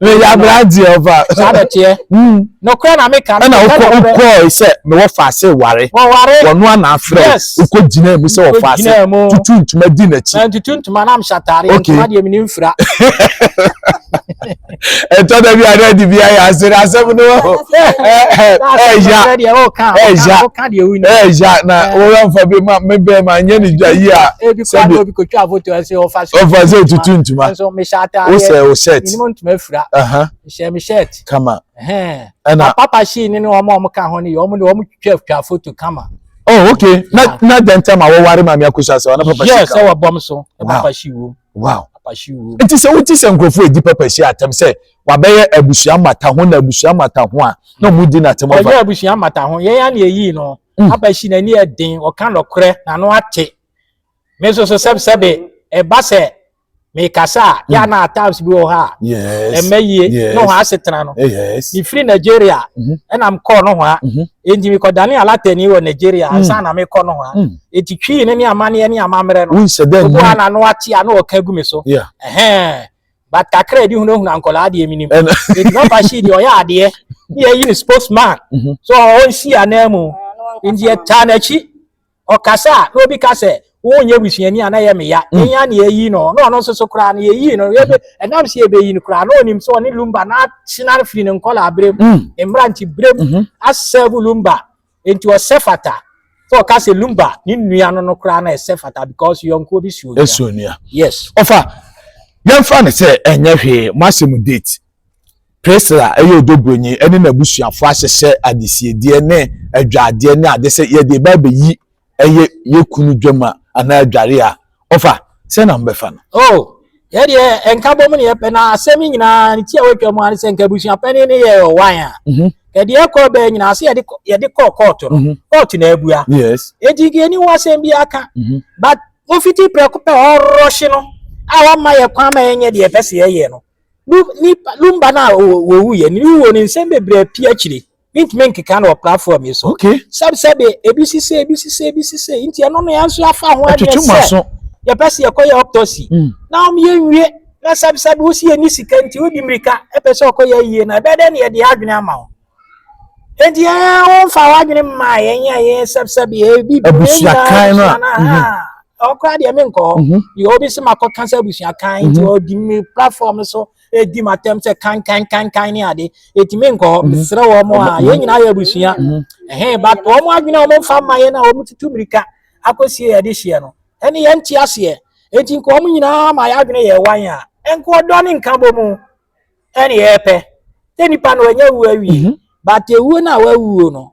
meyɛ aberanteɛ ɔfa saa na ɛteɛ hmm. nokorɛ na meka ɛna wokɔe sɛ mewɔ faase ware wɔno ana afrɛ wokɔ gyinaa mu sɛ wɔ faase tutu ntoma di n'akyi tutu ntoma na mhyɛ atare ntoma deɛ mene mfira ɛtɔ da bi a na adi bi ayɛ ase na asɛm no wɔ hɔ ɛya ɛya ɛya na wɔyɛ mfa bi ma mebɛn ma nyɛ ne dwa yi a sɛbi obi kotwa afoto ɛsɛ ɔfa sɛ ɔfa sɛ tutu ntoma nso mehyɛ ataade wosɛ o shirt minimu ntoma efura nhyɛ mi shirt kama ɛna papa hyii ne ne wɔn a wɔn ka ho ne yɛ wɔn de wɔn twɛ twa afoto kama. oh okay na na dɛntɛm a wɔware maame akosa sɛ ɔna papa hyii kama yes ɛwɔ bɔm so papa hyii wom wow papa hyii wom nti sɛ wote sɛ nkurɔfoɔ edi papa hyii atɛm sɛ wabɛyɛ abusua mata ho na abusua mata ho a na wɔn di n'atɛm ɔfa ɔyɛ abusua mata ho yɛn ya na eyi no papa hyii n'ani yɛ den ɔka nɔkorɛ na ano ate. me nso so sɛbsɛbe ɛba sɛ mekasa a yɛ ana times bi wɔ hɔ a ɛmɛ yie ne hɔ asetena no mefiri nigeria ɛna mekɔɔ no hɔ a ɛnti mekɔdane alatani wɔ nigeria ansa na mekɔ no hɔ a ɛti twii ne ne amanneɛ ne amammerɛ no wobu a nano ate a na ɔka gu me so ɛhɛn but kakra ɛdi hunahuna nkɔla adeɛ menim ɛti na ɔfa hyii deɛ ɔyɛ adeɛ ne yɛyi ne spokesman so ɔnsi anaa mu nti yɛtaa n'akyi ɔkasa a na obi ka sɛ wonyɛ busuani a na ɛyɛ me ya mm. yɛn ya na yɛyi no na ɔno nso so koraa no yɛyi no yɛbɛ mm. ɛnam sɛ yɛbɛyi no koraa na ɔnim sɛ ɔne lumba na atena firi ne nkɔla abere mu mm. ne mmerante bere mu mm-hmm. asɛbo lumba nti ɔsɛ fata sɛ ɔka sɛ lumba ne nnua no no koraa na ɛsɛ fata because yɔnkoɔ bi suo nua suo nua yes ɔfa yɛmfa no sɛ ɛnyɛ hwee mo asɛm date Priscilla yɛ ɔdɔbroni ne n'abusuafoɔ ahyehyɛ adesiedeɛ ne adwadeɛ ne ade sɛ yɛde ba abɛyi ɛyɛ yɛ kunu dwam a anaa adware a ɔfa sɛ na mobɛfa no. Oh, yɛ deɛ nka bɔ mu ne yɛpɛ na asɛm yi nyinaa ne ti a wɔatwa mu a ne sɛ nka abusuapɛne ne yɛ ɔwan a mhm. ɛdeɛ ɛkɔ bɛɛ nyinaa sɛ yɛde kɔ kɔɔto no mhm. kɔɔto na abua ɛnti nka yɛni ho asɛm bi aka mhm. but wofiti prɛko pɛ ɔrɔhye no a wama yɛ kwan ma yɛnyɛ deɛ ɛpɛ sɛ yɛyɛ no No nipa no mba no a wɔwu yɛ no wuo no nsɛm bebree pii akyire mentumi nkeka no wɔ platform yi so okay. sɛb sɛbe ebi sise ebi sise ebi sise nti ɛno no yɛn nso yɛafa ho adwene sɛ yɛpɛ sɛ yɛkɔyɛ autopsy mm. na wɔn yɛ nwie na sɛb sɛbe wosi yɛ ni sika nti wodi mmirika ɛpɛ sɛ ɔkɔyɛ yie na ɛbɛyɛ dɛ na yɛde adwene ama ho Enti ɛyɛ a womfa w'adwene mma yɛn a yɛsɛbsɛbe yɛ bi abusuakan no a mhm. ɔkora deɛ menkɔ hɔ mhm. deɛ obi se makɔka sɛ abusuakan nti mhm. ɔdi me platform so ɛdi m'atɛm sɛ kankankankan ne ade ɛti menkɔ hɔ mesrɛ wɔ mo a yɛn nyinaa yɛ abusua ɛhe but wɔ mo adwene a wɔmfa mma yɛn a wɔtutu mmirika akɔsie yɛde hyeɛ no ɛne yɛnte aseɛ ɛti nkɔ wɔn nyinaa ma yɛadwene yɛ wan a ɛnkɔ ɔdɔ ne nka bɔ mu ɛne ɛpɛ sɛ nipa no ɔnyɛ wu awie mhm. but ewuo no a wawuo no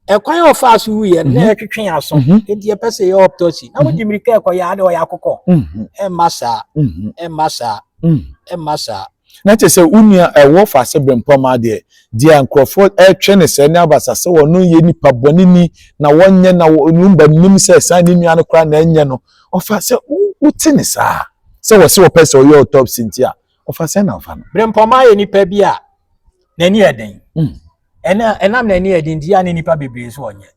ɛkwan a ɔfa so wuyɛ no na mhm. ɛtwetwe aso mhm. nti ɛpɛ sɛ yɛ autopsy na wogye mmirika ɛkɔ yɛ ade ɔyɛ akokɔ ɛmma saa ɛmma saa ɛmma saa na kyerɛ sɛ wo nua ɛwɔ faase brempɔm adeɛ deɛ nkurɔfoɔ ɛretwɛ ne sɛ ne abasa sɛ wɔno yɛ nipa bɔne ni na wɔnyɛ na wɔn ba nim sɛ saa ne nua no koraa na ɛnyɛ no ɔfa sɛ wote ne saa sɛ wɔsi wɔpɛ sɛ ɔyɛ autopsy nti a Ɔfa sɛ na ɔfa no. Brempɔma yɛ nipa bi a n'ani yɛ den. Hmm. Ɛna ɛnam n'ani yɛ den nti a ne nipa bebree nso ɔnyɛ.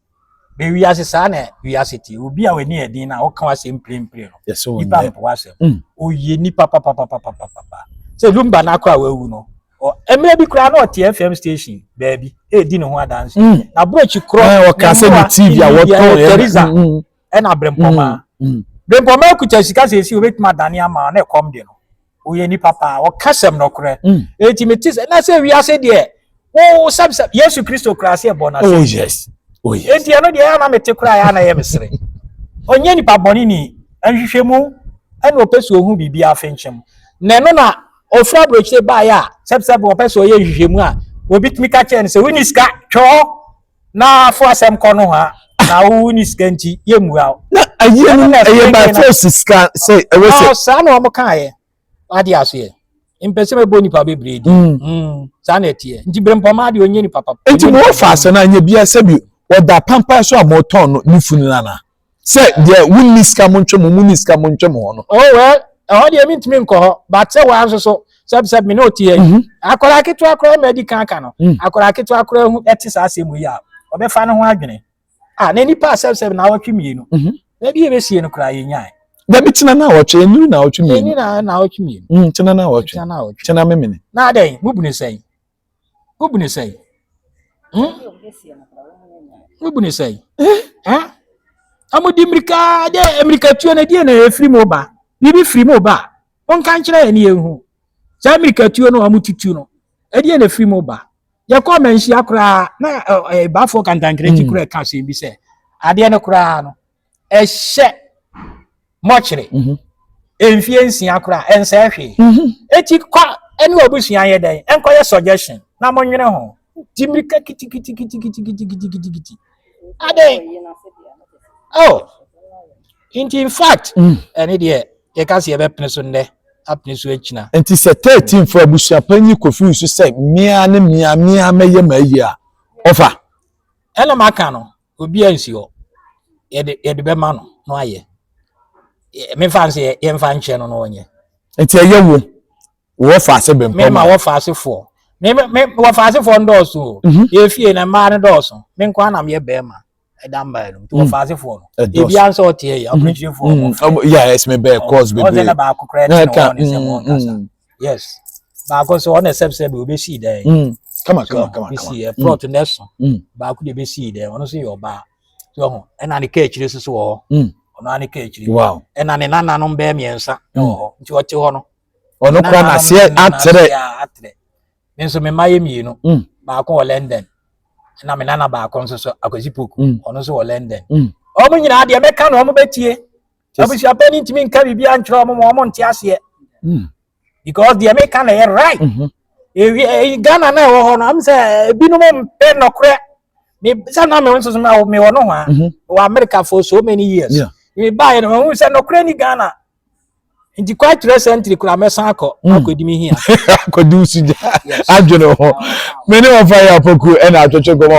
Bɛ wiase saa na wiase te. Obi a w'ani yɛ den na ɔka w'asɛm mprempren no. Yes, nipa mpo w'asɛm. Hmm. Oyɛ nipa papapapapapa. Sɛ Lumba n'akɔ a wawu no. Mmerɛ bi koraa na ɔte FM station baabi ɛredi ne ho adanse. Hmm. Na brokyi korɔ. Ɔka sɛ ne TV a wɔtɔn. Teresa. ɛna brempɔmaa mm, mm. brempɔmaa kuta sika sɛ ɛsi obɛtumi adane ama na ɛkɔm de no ɔyɛ nipa paa ɔka sɛm nɔkorɛ ɛti mm. mete sɛ na sɛ wiase deɛ wo sɛbsɛ yesu kristo koraa sɛ ɛbɔ no ase oh, yes. oh, yes. ɛnti ɛno deɛ ɛna mete koraa yɛ ana yɛ mesere ɔnyɛ nipa bɔne ni nhwehwɛ mu ɛna ɔpɛ sɛ ɔhu biribi afenkyɛm na ɛno na ɔfiri aburokyire baeɛ a sɛbsɛb ɔpɛ sɛ ɔyɛ nhwehwɛ mu a obi tumi ka kyerɛ no sɛ woni sika twɛ hɔ na fo asɛm kɔ no ha na wo ni sika nti yɛ mua o. na ayie no ɛyɛ by force sika sɛ ɛwɔ sɛ. na saa na wɔn kaa yɛ ade aseɛ mpɛsɛ mɛbɔ nipa bebree di mm. mm. saa na ɛteɛ nti berempɔma de ɔnyɛ nipa papa. nti mo wɔ fa asɛ no anyɛ bia sɛbi ɔda pampa so a mɔtɔn no ne funu no anaa. sɛ deɛ wonni sika mo ntwe mo monni sika mo ntwe mo hɔ no. o wɛ ɛhɔ deɛ mi ntumi nkɔ hɔ but sɛ wɔn nso so sɛbisɛbi mi na o ti yɛ yi akwadaa ketewa koraa ma adi kan ka no akwadaa ketewa koraa hu ɛte saa asɛm yi a ɔbɛfa ne ho adwene a na nipa sɛbisɛbi na awɔtwe mmienu na bi yɛ bɛ sie no koraa yɛ nyaa. dabi tena na awɔtwe eniri na awɔtwe mmienu eniri na awɔtwe mmienu tena na awɔtwe tena memene. na adɛn mu bunu sɛn. wobu ne sɛe hmm? wobu ne sɛe ɔmode eh? mmirika dɛ mmirikatuo no deɛ na ɛfiri mu ba biribi firi mu ba monka nkyerɛ yɛ ne yɛhu saa mmirikatuo no ɔmotutu no ɛdeɛ na ɛfiri mu ba yɛkɔ manhyia koraa na ɛbafoɔ kantankrɛ kyi koraa ɛka asɛm bi sɛ adeɛ no koraa no ɛhyɛ mɔkyere mhm. mfie nsia koraa ɛnsɛɛ hwee mhm. eti kɔ ɛne ɔbusua yɛ dɛn ɛnkɔyɛ suggestion na mo nwene ho ti mirika kitikitikitikitikitikitikitikiti adɛn oh nti in fact mm. ɛne deɛ yɛka sɛ yɛbɛpene so nnɛ apene so akyina nti sɛ thirteen fo abusua panyin kofi nso sɛ mmea ne mmea mmea mɛyɛ ma ayi a ɔfa ɛna maka no obiara nsi hɔ yɛde yɛde bɛma no na wayɛ mefa nsɛ yɛmfa nkyɛ no na ɔnyɛ nti ɛyɛ wo wɔfa ase bɛmpɔ me ma wɔfa asefoɔ me me wɔfa asefoɔ ndɔɔso o mhm. yɛfie na mmaa no dɔɔso me nko anam yɛ bɛrima ɛda mba yɛ no nti wɔfa asefoɔ no ebi ansɛ ɔteɛ yɛ ɔpɛnkyinfoɔ yɛ ɛsɛ me bɛɛ kɔɔs bebree ɔsɛ na baako koraa ɛte na wɔn ne sɛ wɔn kasa yes baako so ɔna sɛb sɛb obi si dɛ mm kama kama kama kama si ɛ plot na so baako de be si dɛ ɔno so yɛ ɔbaa so ho ɛna ne kaa akyire so so wɔ hɔ ɔno ane kaa akyire wow ɛna ne nananom bɛɛ mmiɛnsa wɔ hɔ nti ɔte hɔ no ɔno kora na seɛ atrɛ atrɛ me nso me mma yɛ mmienu baako wɔ London ɛna me nana baako nso so akwasi poku ɔno nso wɔ London ɔmo nyinaa deɛ mɛka na ɔmo bɛtie abusuapɛ no ntumi nka biribiara nkyerɛ wɔn ma wɔn nte aseɛ hmm. because deɛ meka na ɛyɛ right mhm. eh, ghana na ɛwɔ hɔ no am sɛ eh, ebinom mpɛ nɔkorɛ sɛ na me nso so mewɔ no ho a mhm. wɔ america for so many years mebaeɛ no mahu sɛ nɔkorɛ ni ghana nti kwa kyerɛ sɛntiri kura mɛsan akɔ hmm. akɔdi mi hia akɔdi wo sugya adwene hɔ me ne wɔfa yɛ apokuo ɛna atwetwe gɔmɔ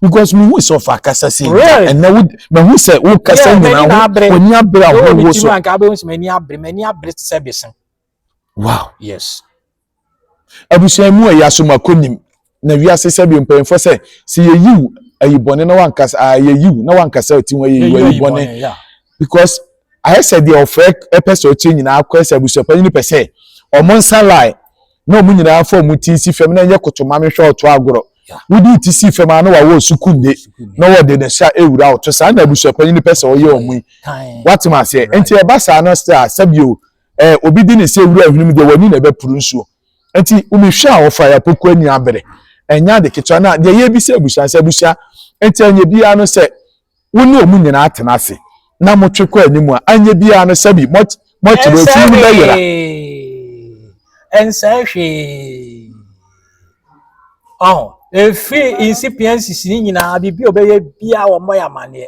because me hu sɛ ɔfa akasa sɛ nka ɛnɛ wo me hu sɛ wo kasa nyinaa ho w'ani abere a wo wo so nka abɛhu sɛ m'ani abere m'ani abere te sɛ bese wow yes abusua mu ɛyɛ asomakɔ nim na wiase sɛ bi mpanyinfoɔ sɛ sɛ yɛyiw ayi bɔne na wankasa a yɛyiw na wankasa ati ho yɛyiw ayi bɔne because ayɛ sɛ deɛ ɔfrɛ ɛpɛ sɛ ɔkyerɛ nyinaa akɔɛ sɛ abusuapanyin no pɛ sɛ ɔmo nsa lie na wɔn nyinaa fa wɔn ti si fam na ɛnyɛ koto ma mehwɛ ɔto agorɔ wode ti si fam a na wawɔ sukunde na wɔde ne hyɛ ewura ɔto saa na abusuapanyin pɛ sɛ ɔyɛ wɔn yi watem aseɛ nti ɛba saa no sɛ a sɛbio ɛɛ obi di ne sɛ ewura ahwene deɛ wani na ɛbɛpuru nsuo nti womehwɛ a wɔfa yɛapoko ani abere ɛnyɛ ade ketewa na deɛ yɛbisa abusua sɛ abusua nti ɛnyɛ biara no sɛ wo ne wɔn nyinaa tena ase na motwe kɔ anim a anyɛ biara no sɛbi moakyerɛ ofie no bɛyera ɛnsɛ hwee ɔho ɛfiri nsipia nsisi ne nyinaa biribi a ɔbɛyɛ biara wɔmmɔ yɛ amanneɛ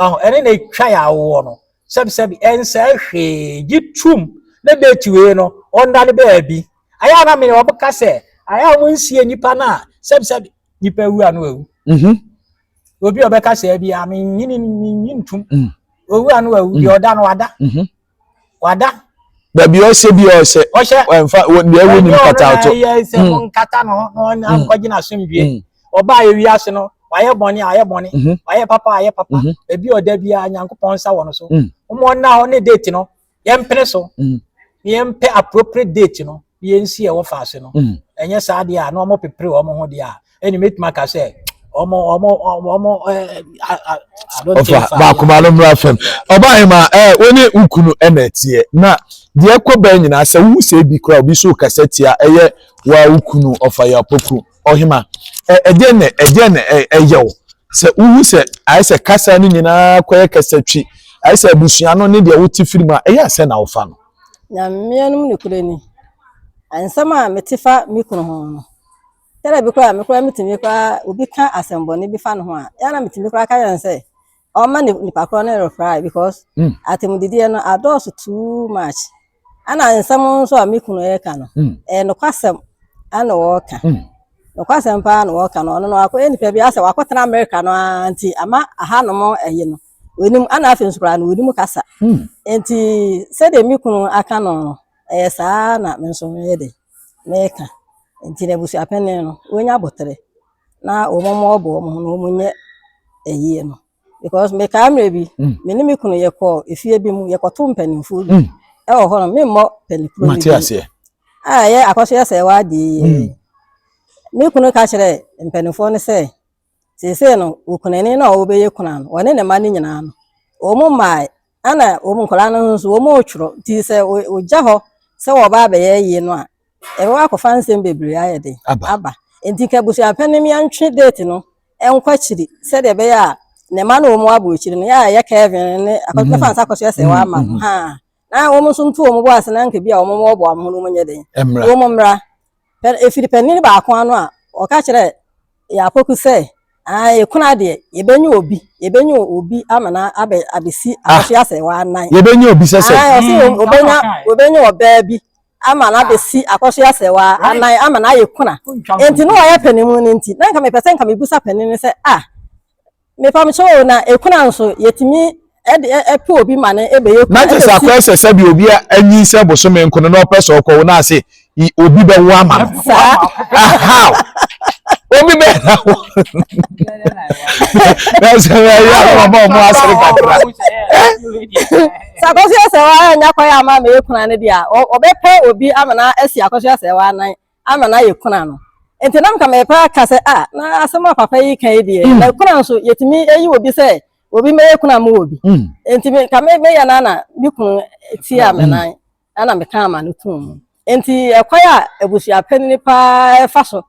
ɔho ɛne na ɛtwa yɛ awoɔ no sɛbisɛbi ɛnsɛ hwee gye tum ne date wei no ɔnda ne baabi ayɛ ana mene wɔbɛka sɛ ayɛ a wɔnsie nnipa no a sɛbisɛbi nnipa wu a no awu mhm. obi a ɔbɛka sɛ bi a menyini menyi ntom mm. owu a no wawu mm. deɛ ɔda no wada mm-hmm. wada baabi ɔhyɛ bi ɔhyɛ ɔhyɛ ɛnfa deɛ ɛwɔ nim kata ɔtɔ ɛyɛ sɛ mo nkata no na ɔnkɔgye na asomdue ɔbaa yɛ wiase no wayɛ bɔne ayɛ bɔne mm-hmm. wayɛ papa ayɛ papa mm-hmm. ebi ɔda bi a nyankopɔn nsa wɔ no so wɔn ɔnna hɔ ne date no yɛmpene so mm. na yɛmpɛ appropriate date no na yɛnsi ɛwɔ faase no mm. ɛnyɛ saa deɛ a na wɔn pepere wɔn ho deɛ a ɛna mɛtumi aka sɛ wɔn wɔn wɔn ɛɛ adonte fa baakoma no mmira fam ɔbaa yɛn ma ɛɛ wɔn ne nkunu ɛna ɛteɛ na deɛ ɛkɔ bɛn nyinaa sɛ wohu sɛ ebi kora obi so kasa tia ɛyɛ wɔn a nkunu ɔfa yɛ apɔku. Ɔhema, ɛdeɛn na ɛdeɛn na ɛyɛ wo sɛ wohu sɛ ayɛ sɛ kasa no nyinaa kɔyɛ kasa twi ayɛ sɛ abusua no ne deɛ wote firi mu a ɛyɛ asɛ na wofa no. na mmea no mu nokorɛ ni nsɛm a mete fa me kunu ho no tɛrɛ bi koraa me koraa metumi koraa obi ka asɛmbɔne bi fa no ho a ɛna metumi koraa ka yɛn sɛ ɔma ne nipa korɔ no refrae because mm. atemmudideɛ no adɔɔso too much ana nsɛm nso a me kunu ɛreka no mm. ɛyɛ nokwasɛm ana wɔreka mm. nokwasɛm paa na wɔreka no ɔno no wakɔ nipa bi asɛ wakɔtena amerika no ara nti ama ahanom ɛyi no wɔnim ana afei nso koraa no wɔnim kasa nti sɛdeɛ me kunu aka no ɛyɛ saa na me nso yɛ de meka nti no abusua pɛne no wɔnya aboterɛ na wɔn mmoa ɔbɔ wɔn ho na wɔn nyɛ ɛyie no because mekaa mmerɛ bi mm. me ne me kunu yɛkɔ efie bi mu yɛkɔto mpanimfoɔ bi mm. ɛwɔ hɔ no memmɔ panikuro bi a ɛyɛ akɔso yɛ sɛ ɛwɔ adeɛ yie mm. me kunu ka kyerɛ mpanimfoɔ no sɛ Seesei no, okunani no a ɔbɛyɛ kuna no, ɔne ne mma no nyinaa no, wɔn mmae, ɛna wɔn nkwadaa no nso wɔn retwerɛ. Nti sɛ ɔgya hɔ sɛ wɔba abɛyɛ yie no a, ɛbɛba akɔfa nsɛm bebree ayɛ den aba. Nti ka abusuapɛn no yɛntwe date no nkɔ akyiri sɛdeɛ ɛbɛyɛ a ne mma no wɔn abɔ akyiri no yɛ a yɛ Kevin ne akɔtɔ mhm. fa nsa kɔ so yɛ sɛ wɔama no mhm. ha. na wɔn nso nto wɔn bo ase na anka bi a wɔn wɔboa wɔn ho no wɔn nyɛ den na wɔn mmra efiri panyin baako ano a ɔka kyerɛ yɛ akɔku sɛ aa yɛkunu adeɛ yɛbɛnye obi yɛbɛnye obi ama na abɛ abɛsi ah. ahwɛ asɛ wɔanan yɛbɛnye obi sɛ sɛ aa ɔsi ɔbɛnya ɔbɛnya ɔbaa bi ama na abɛsi akɔhwɛ asɛ wɔanan ama na ayɛ kuna nti na ɔyɛ panin mu no nti na nka mepɛ sɛ nka mebusa panin no sɛ ah Mepamekyɛ o na ekuna nso yɛtumi ɛde ɛpɛ obi ma no ɛbɛyɛ kunu. Na kyɛ sɛ akɔyɛ sɛ sɛbi obi anyin sɛ bosome nko no na ɔpɛ sɛ ɔkɔwo na ase obi bɛwo ama no. Saa. How? Obi bɛ na wo. Na sɛ ɛyɛ akɔma ɔmo asere kakra. Sɛ akɔso yɛ sɛ waa nya kɔyɛ ama mɛyɛ kuna no deɛ a ɔbɛpɛ obi ama no asi akɔso yɛ sɛ waa nan. ama no ayɛ kuna no nti na nka mepɛ aka sɛ a na asɛm a papa yi ka yi deɛ mm. na kuna nso yɛtumi ayi wɔ bi sɛ obi mɛyɛ kuna mu wɔ bi mm. nti nka meyɛ no ana me kunu tia me mm. nan ana meka ama no tom mu nti ɛkwan a abusua panini paa ɛfa so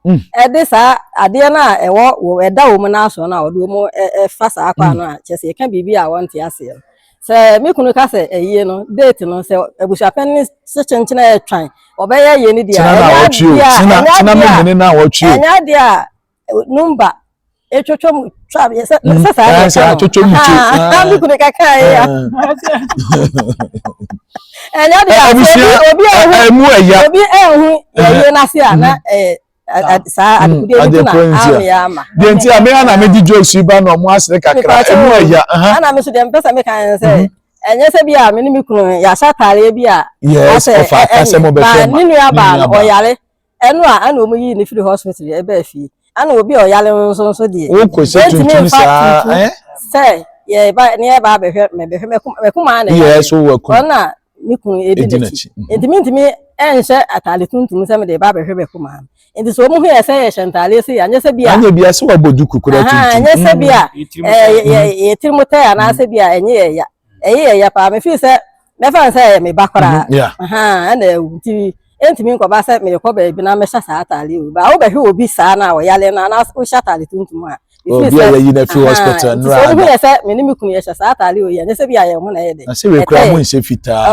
ɛde saa adeɛ no a ɛwɔ ɛda wɔ mu no aso no a ɔde wɔ mu ɛfa saa kwan no a kyɛ sɛ yɛka biribi a wɔnte aseɛ no Sɛ me kunu ka sɛ ayie no date no sɛ abusuapɛn ne se kyenkyena ɛtwan ɔbɛyɛ ayie no deɛ ɛnyɛ adeɛ a ɛnyɛ adeɛ a numba ɛtwotwo mu twa yɛ sɛ sɛ saa yɛ sɛ atwotwo mu twa haa me kunu ka kaa yɛ ɛnyɛ adeɛ a obi ɛmu ɛya obi ɛhu yɛ yie n'ase a na ɛɛ. saa adekodeɛ no bi na ameyɛ ama deɛ nti a meya na mede jokes yi ba na ɔmo asere kakra ɛmu ɛya ana me so deɛ mpɛ sɛ meka ne sɛ mhm. ɛnyɛ sɛ bi a me ne me kunu yɛahyɛ ataareɛ bi a asɛ ɛne ba ne nua baa no ɔyare ɛno a ana ɔmo yii ne firi hospital ɛbaa fie ana obi a ɔyare no nso nso deɛ ɛntumi mfa tutu sɛ yɛba ne yɛba abɛhwɛ mɛbɛhwɛ mɛkoma na ɛyɛ so wɔ ku ɔna me kun edi n'akyi mhm. nti mintumi nhyɛ ataade tuntum sɛ mede ba abɛhwɛ bɛko maa no nti sɛ wɔn ho yɛ sɛ yɛhyɛ ntaade se anyɛ sɛ bi a anyɛ bi a sɛ wabɔ duku kura tuntum anyɛ sɛ bi a yɛ tiri mu tɛ anaasɛ bi a ɛnyɛ yɛ ya ɛyɛ yɛ ya paa mefi sɛ mɛfa sɛ ɛyɛ me ba koraa mhm, ɛna ewu nti. ɛntumi nkɔba sɛ merekɔ baabi na mɛhyɛ saa ataade yi o baa wobɛhwɛ obi saa na ɔyare no anaa wohyɛ ataade tuntum a obi a yɛyi no afi hospital nnura ada wohu yɛ sɛ me ne me kunu yɛhyɛ saa ataade o yɛ ɛnyɛ sɛ bi a yɛn ho na ɛyɛ dɛ na sɛ wekura mo nhyɛ fitaa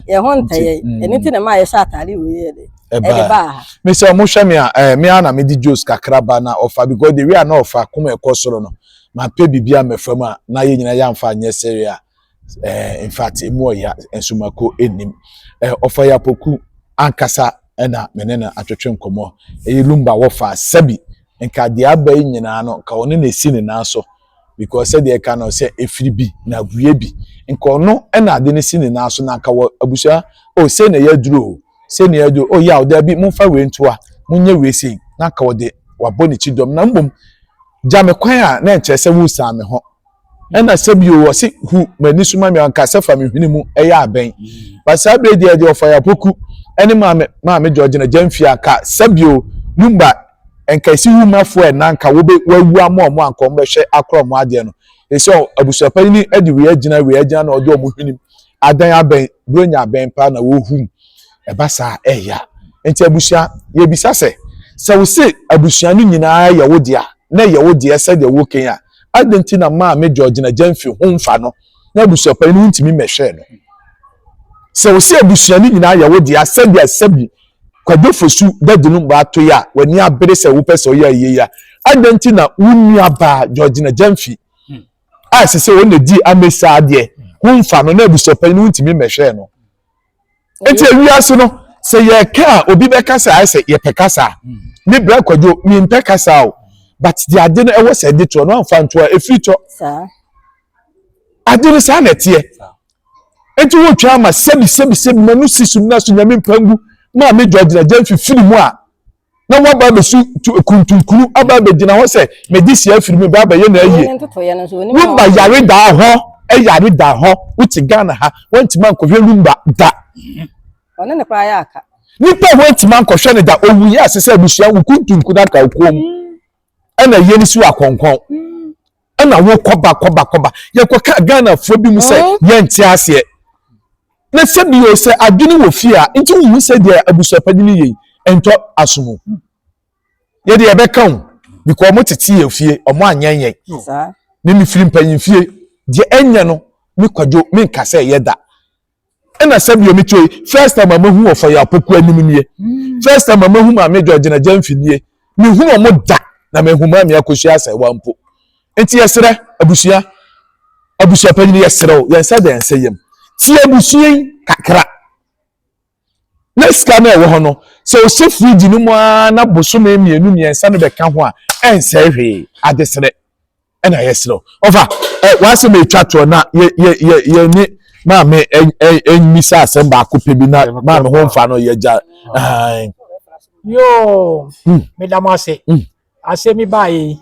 yɛn ho ntɛyɛ ɛno ti na ma yɛhyɛ ataade o yɛ dɛ ɛbaa me sɛ ɔmo hwɛ me a ɛɛ me a na mede juice kakra ba na ɔfa because the way a na ɔfa kɔm ɛkɔ soro no ma pɛ biribi a mɛfa mu a na yɛ nyina yɛ anfa nyɛ sɛre a eh, in fact emu ɔya nsomako nnim eh, ɔfa ya poku ankasa ɛna me ne no atwetwe nkɔmmɔ ɛyɛ lumba wɔfa sɛbi nka deɛ aba yi nyinaa no nka ɔne na esi ne nan so because sɛdeɛ ɛka no sɛ efiri bi na abue bi nka ɔno ɛna ade no si ne nan so na nka wɔ abusua o oh, sɛ na ɛyɛ aduro o sɛ na ɛyɛ aduro o oh, yaw daabi momfa wei ntoa monyɛ wei sei na nka ɔde wabɔ ne ti dɔm na mbom gya me kwan a na nkyerɛ sɛ wosan me ho ɛna sɛ bio wɔse hu m'ani so ma me anka sɛ fa me hwene mu ɛyɛ abɛn ba saa bere deɛ deɛ ɔfa yɛapoku ɛne maame maame gyɔgyina gya mfie aka sɛ bio lumba nka ɛsi wu mafo ɛna nka wobe wawu ama ɔmo anka ɔmo bɛhwɛ akora ɔmo adeɛ no ɛsɛ abusuapa yi ni ɛde wei agyina wei agyina na ɔde ɔmo hwene mu adan abɛn buro nya abɛn paa na wɔhum ɛba saa ɛya nti abusua yɛbisa sɛ sɛ wo se abusua no nyinaa yɛ wo deɛ na yɛ wo deɛ sɛdeɛ wokan a Adɛn nti na maame George na Jane fi ho mfa no na abusuapanyin no ntumi mmɛhwɛɛ no? Sɛ wosɛ abusua no nyinaa yɛ wo dea sɛdeɛ Sɛbi Kwadwo Fosu dadi no mmara toe a w'ani abere sɛ wopɛ sɛ ɔyɛ ayie yi a, adɛn nti na wo nuabaa Georgina Gyamfi a ɛsɛ sɛ ɔno na di Amesa adeɛ ho mfa no na abusuapanyin no ntumi mmɛhwɛɛ no? nti ewiase no sɛ yɛka a obi bɛkasa ayɛ sɛ yɛpɛ kasa ne brɛ kwadwo mempɛ kasa o but de ade no ɛwɔ sɛ ɛde toɔ no amfa ntoɔ ɛfiri tɔ ade no saa na ɛteɛ nti wotwa ama sɛbi sɛbi sɛbi ma no si so na so nyame mpangu ma me dwa gyina gya mfifiri mu a na wɔaba abɛsu kuntunkunu aba abɛgyina hɔ sɛ mede si afiri mu ba abɛyɛ na ayie woba yare daa hɔ yare daa hɔ wote ghana ha woantumi ankɔhwɛ lumba da ɔne ne koraa yɛ aka nipa a woantumi ankɔhwɛ no da owu yɛ ase sɛ abusua wo kuntunkunu aka okuom ɛna yɛ no si wɔ akɔnkɔn ɛna wo kɔba kɔba kɔba yɛkɔka ghanafoɔ bi mu sɛ mm-hmm. yɛnte aseɛ na sɛ bi o sɛ adwene wɔ fie a nti wohu sɛ deɛ abusuapadi no yɛ ɛntɔ asomu yɛde yɛbɛka ho because wɔn tete yɛ fie wɔn anyɛ yɛn ne ne firi mpanyin fie deɛ ɛnyɛ no me kwadwo me nka sɛ ɛyɛ da ɛna sɛ deɛ meto yi first time a mahu ɔfa yɛ apoko anim nie hmm. first time a mahu maame dwa gyina gya mfi nie mehu wɔn da na mehu maame akosua asɛ wa mpo nti yɛsrɛ abusua abusua panyin yɛsrɛ o yɛn nsa da yɛn nsa yam tie abusua yi kakra na sika no ɛwɔ hɔ no sɛ ɔhyɛ firiji no mu ara na bosome mmienu mmiɛnsa no bɛka ho a ɛnsɛ hwee adesrɛ. ɛna yɛserɛ wo ɔfa w'asɛm ɛtwa toɔ na yɛne maame mmisa asɛm baako pɛ bi na maame ho mfa no yɛgya yoo hmm. meda mo ase hmm. asɛm yi baayɛ yi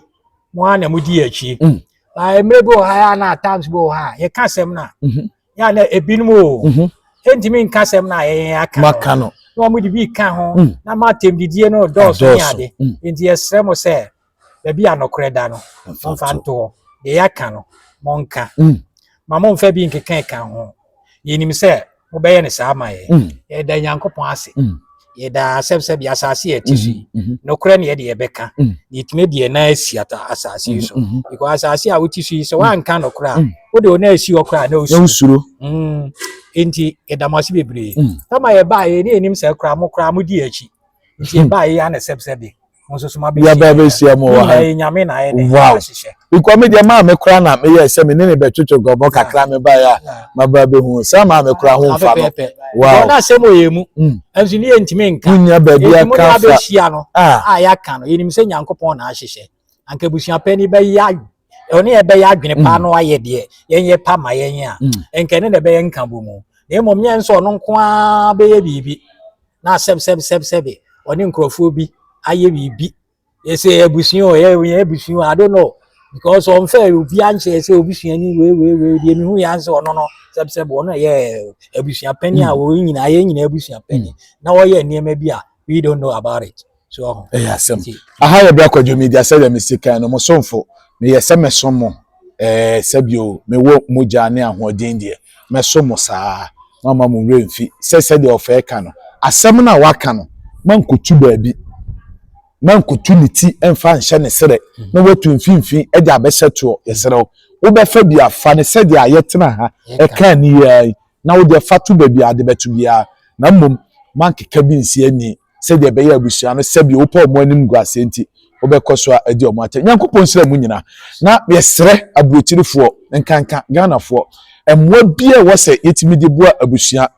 mo a na modi yɛ akyi hmm. mmerɛ bi wɔ ha yɛ na times bi wɔ ha yɛka asɛm no a mhm. yɛ a na ebinom o mhm. ɛntumi nka asɛm no a yɛyɛ aka no na wɔn de bi ka ho na ma atɛm didie no dɔɔso ne ade nti yɛsrɛ mo sɛ baabi a nokorɛ da no, momfa nto hɔ. Deɛ yɛaka no, monka. Mm. Ma momfa bi nkeka ɛka ho. Yɛnim sɛ mobɛyɛ no saa ma yɛn. Mm. Yɛda Nyankopɔn ase. Mm. Yɛda asɛm sɛ deɛ asase yɛ ti so yi, mm-hmm. mm-hmm. nokorɛ ne yɛde yɛbɛka. Mm. Yɛtumi deɛ na asi asase yi so. Mm-hmm. Because asase a wote so yi, sɛ woanka nokorɛ a, wode wo na asi hɔ koraa na wosuro. Enti yɛda mo ase bebree. Tama yɛbaa yɛ ne yɛnim sɛ koraa mo koraa modi akyi. Nti yɛbaa yɛ yɛ anasɛm sɛ de. yɛba bɛhyia mu wɔ ha wow because me deɛ maa me kora na meyɛ sɛ me ne ne bɛtwetwe gɔbɔ kakra me ba yɛ a maba bɛhu saa maa me kora ho mfa no wow ɔna asɛm ɔyɛ mu ɛnso ne yɛntumi nka wonya baabi aka fa a yɛaka no yɛnim sɛ nyankopɔn na ahyehyɛ anka abusuapɛ ni bɛyɛ ɛno ne ɛbɛyɛ adwene paa mm. no ayɛ deɛ yɛnyɛ pa ma yɛn a mm. nka ɛno na ɛbɛyɛ nka bɔ mu na mmom nyɛ nso ɔno nko ara bɛyɛ biribi na asɛbsɛbsɛbsɛbe ɔne nkurɔfoɔ bi ayɛ biribi ɛsɛ abusua o ɛyɛ abusua i don't know because ɔnfɛ obi ankyerɛ sɛ obi sua ni wei wei wei deɛ mehu yɛ ansɛ ɔno no sɛbsɛb ɔno ɛyɛ abusua panyin a wɔn nyinaa yɛn nyinaa abusua panyin na wɔyɛ nneɛma bi a we don't know about it. ɛyɛ asɛm aha yɛ bra kwadwo media sɛdeɛ mesi kan no mo somfo meyɛ sɛ mɛsom mo ɛɛ sɛbio mewɔ mogya ne ahoɔden deɛ mɛsom mo saa mama mo werɛ mfi sɛ sɛdeɛ ɔfɛɛ ka no asɛm no a waka no mankotu baabi mankotu ne ti mfa nhyɛ ne serɛ na watu mfimfini de abɛhyɛ toɔ yɛserɛ wo wobɛfa bi afa ne sɛdeɛ a yɛtena ha ɛka ne yɛa na wode afa to baabi a ade bɛkye biara, na mmom moankeka bi nsi anni, sɛdeɛ ɛbɛyɛ a abusua no, sɛdeɛ wopɛ wɔn animguaseɛ nti, wobɛkɔ so a adi wɔn atɛn. Nyankopɔn nhyira mo nyinaa, na yɛsrɛ aburokyirifoɔ, nkanka Ghanafoɔ, mmoa biara a ɛwɔ sɛ yɛtumi de boa abusua,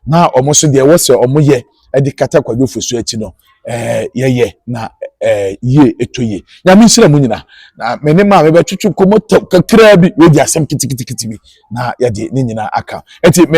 na wɔn nso deɛ ɛwɔ sɛ wɔyɛ, ɛde kata kwadwo fosuo akyi no ɛɛ yɛyɛ na ɛɛ yie eto yie nyame nhyira mu nyina na me ne maame bɛtwitwi nkɔmɔ tɛw kakraa bi wei di asɛm kitikitikiti bi na yɛde ne nyinaa aka ɛti me.